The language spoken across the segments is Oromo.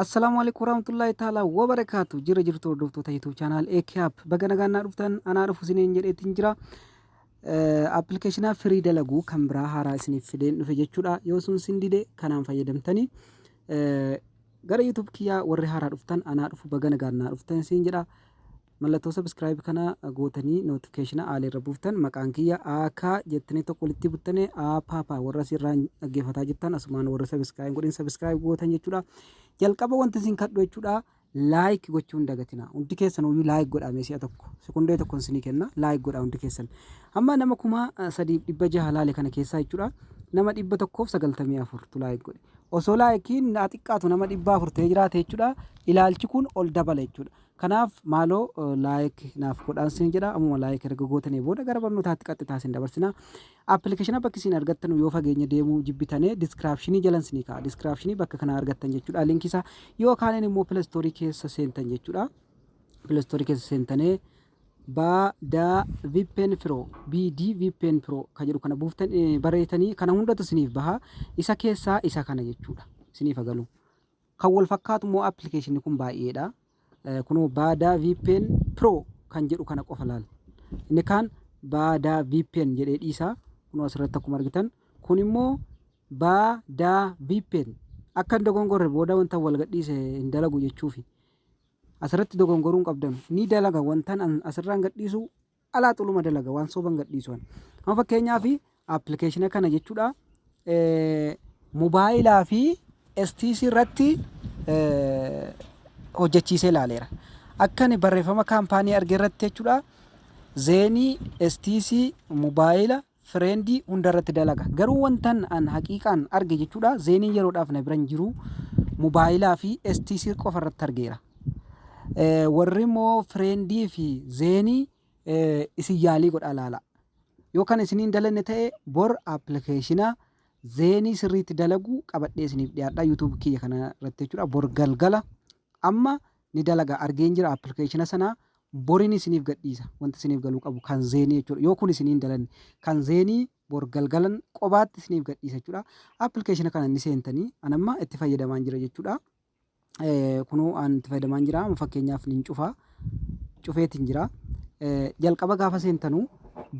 Assalaamu alaikum warahmatullahi ta'ala wa barakaatu jira jirtu hordoftoota YouTube channel AKAP baga nagaan naa dhuftan anaa dhufu isiniin jedheetiin jira appilikeeshinaa firii dalaguu kan biraa haaraa isiniif fideen dhufe jechuudha yoo sun sin dide kanaan fayyadamtanii gara YouTube kiyyaa warri haaraa dhuftan anaa dhufu baga nagaan naa dhuftan siin jedha Mallattoo subscribe kana gootanii notification aal irra buuftan maqaan kiyya AK jettanii tokko walitti buttane A papa warra sirraa dhaggeeffataa jirtan asumaan warra subscribe godhin subscribe gootan jechuudha. Jalqaba wanti isin kadhu jechuudha like gochuun dagatina. Hundi keessan uyyuu like godhaa mee si'a tokko sekondee tokkon isinii kenna like godhaa hundi keessan. Amma nama kuma eh, sadiif dhibba jaha laale kana keessaa jechuudha nama dhibba tokkoof sagaltamii afurtu like godhe. Osoo laayikiin naa xiqqaatu nama dhibba afur ta'ee jiraate jechuudha ilaalchi kun ol dabala jechuudha. Kanaaf maaloo like naaf godhaan sin jedha ammuma like erga gootanii booda gara barnootaatti qaxxitaa sin dabarsina appilikeeshina bakki siin argattanu yoo fageenya deemuu jibbitane diskiraapshinii jalan sinii ka'a diskiraapshinii bakka kanaa argattan jechuudha linkisaa yoo kaaneen immoo pilastoorii keessa seentan jechuudha pilastoorii keessa seentanee baada vipen firo bd vipen firo ka jedhu kana buuftan bareetanii kana hundatu siniif baha isa keessaa isa kana jechuudha siniif agalu Kan wal fakkaatu immoo application kun baay'eedha. Kunoo Baadaa VPN Pro kan jedhu kana qofa laal. Inni kaan Baadaa VPN jedhee dhiisaa. Kunoo asirratti akkuma argitan kun immoo Baadaa VPN akka hin dogongorre booda wanta wal gadhiise hin dalagu jechuufi. Asirratti dogongoruun qabdan ni dalaga wantan asirraan gadhiisu alaa xuluma dalaga waan sooban gadhiisu kana. Amma fakkeenyaaf appilikeeshina kana jechuudha mobaayilaa fi STC irratti hojjechiisee ilaaleera. Akka inni barreeffama kaampaanii arge irratti jechuudha zeenii STC mobaayila Friend hunda irratti dalaga. Garuu wantan an haqiiqaan arge jechuudha Zeeniin yeroodhaaf na biran jiru mobaayilaa fi STC qofa irratti argeera. Eh, Warri immoo Friendii fi Zeenii eh, isin yaalii godhaa laala. Yoo kan isiniin dalanne ta'e bor appilikeeshina Zeenii sirriitti dalagu qabadhee isiniif dhiyaadha YouTube kiyya kana irratti jechuudha bor galgala amma ni dalaga argeen jira appilikeeshina sana Borin isiniif gadhiisa. Wanti isiniif galuu qabu kan zeenii jechuudha. Yoo kun isinii hin dalanne kan zeenii bor galgalan qobaatti isiniif gadhiisa jechuudha. Appilikeeshina kana ni seentanii an amma itti fayyadamaan jira jechuudha. Kunuu an itti fayyadamaan jira amma fakkeenyaaf nin cufa cufeetiin jira. Jalqaba gaafa seentanuu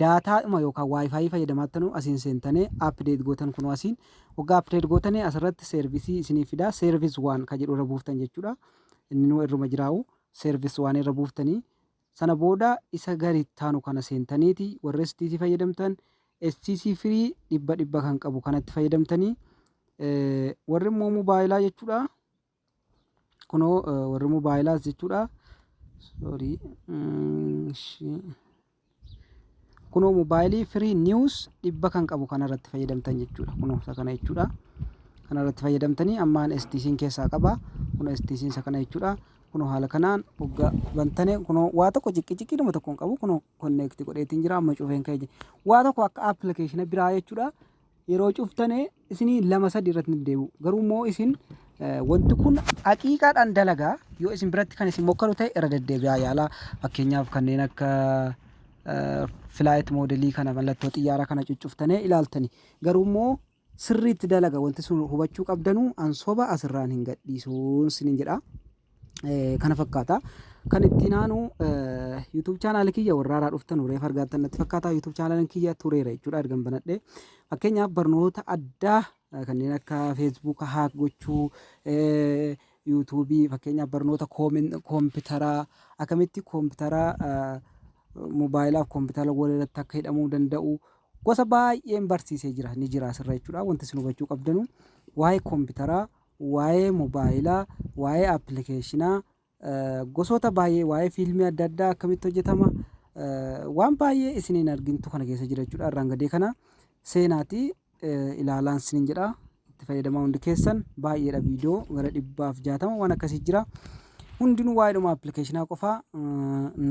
daataadhuma yookaan waayifaayii fayyadamaattanu asiin seentanii apdeet gootan kunuu asiin waggaa apdeet gootanii asirratti seervisii isiniif fidaa seervis waan ka jedhu irra buuftan jechuudha. Inni nuu irruma jiraa'u. service waan irra buuftanii sana booda isa gadi taanu kana seentaniiti warri STC fayyadamtan STC firii dhibba dhibba kan qabu kanatti fayyadamtanii warri immoo mobaayilaa jechuudha kunoo warri mobaayilaas jechuudha sorry Kunoo mobaayilii firii niwus dhibba kan qabu kanarratti fayyadamtan jechuudha. Kunoo isa kana jechuudha. Kanarratti fayyadamtanii ammaan STC'n keessaa qaba. Kunoo STC'n isa kana jechuudha. Kunoo haala kanaan hoggaa bantane kunoo waa tokko ciqqiciqqii nama tokko hin qabu. Kunoo konneekti godheetiin jira amma cufeen ka'e jira. Waa tokko akka appilikeeshina biraa jechuudha. yeroo cuftane isinii lama sadi irratti nif deebi'u garuu immoo isin wanti kun haqiiqaadhaan dalagaa yoo isin biratti kan isin mokkaru ta'e irra deddeebi'aa yaalaa fakkeenyaaf kanneen akka filaayit moodelii kana mallattoo xiyyaara kana cuccuftanii ilaaltani garuu immoo sirriitti dalaga wanti sun hubachuu qabdanuu ansoba asirraan hin gadhiisuun sinin jedha. Eh, kana fakkaata. Kan itti naanu YouTube channel kiyya warra haaraa dhuftan warra reef argaattan natti fakkaata. YouTube channel kiyya tureera jechuudha ergan banadhe. Fakkeenyaaf barnoota addaa eh, kanneen akka Facebook haak gochuu, eh, YouTube fakkeenyaaf barnoota koomen- koompitaraa akkamitti koompitaraa eh, mobaayilaa fi koompitara wal irratti akka hidhamuu danda'u gosa baay'een barsiisee jira ni jira asirra jechuudha. Wanti isin hubachuu qabdanu waa'ee koompitaraa waa'ee mobaayilaa, waa'ee appilikeeshinaa, gosoota baay'ee waa'ee fiilmii adda addaa akkamitti hojjetama waan baay'ee isin hin argintu kana keessa jira jechuudha. Irraan gadee kana seenaati ilaalaan sinin jedha. Itti fayyadamaa hundi keessan baay'eedha viidiyoo gara dhibbaaf jaatama waan akkasii jira. Hundinuu waa'eedhuma appilikeeshinaa qofaa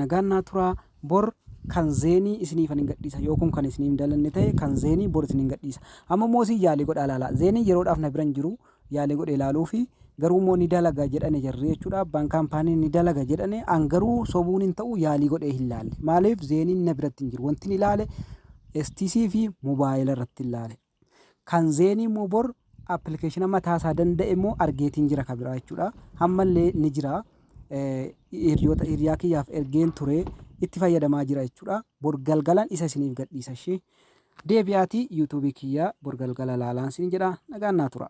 nagaan naa turaa Bor kan zeenii isiniifanin gadhiisa yoo kun kan isinii hin dalanne ta'e kan zeenii bor isinin gadhiisa. Amma immoo isin yaalii godhaa ilaalaa. Zeeniin yeroodhaaf na bira hin jiru yaalii godhee ilaaluufi garuu immoo ni dalaga jedhane jarri jechuudha abbaan kaampaanii ni dalaga jedhane an garuu sobuun hin ta'u yaalii godhee hin laalle maaliif zeeniin na biratti hin jiru wantin ilaale STC fi mobaayila irratti hin laale. Kan Zeenii immoo bor application mataa isaa danda'e immoo argeetiin jira ka biraa jechuudha. Hammallee ni jira. Hiriyoota hiriyaa kiyyaaf ergeen ture itti fayyadamaa jira jechuudha. Bor galgalan isa isiniif gadhiisa ishee. Deebi'aatii yuutuubii kiyyaa bor galgala laalaan siin jedha nagaan naa tura.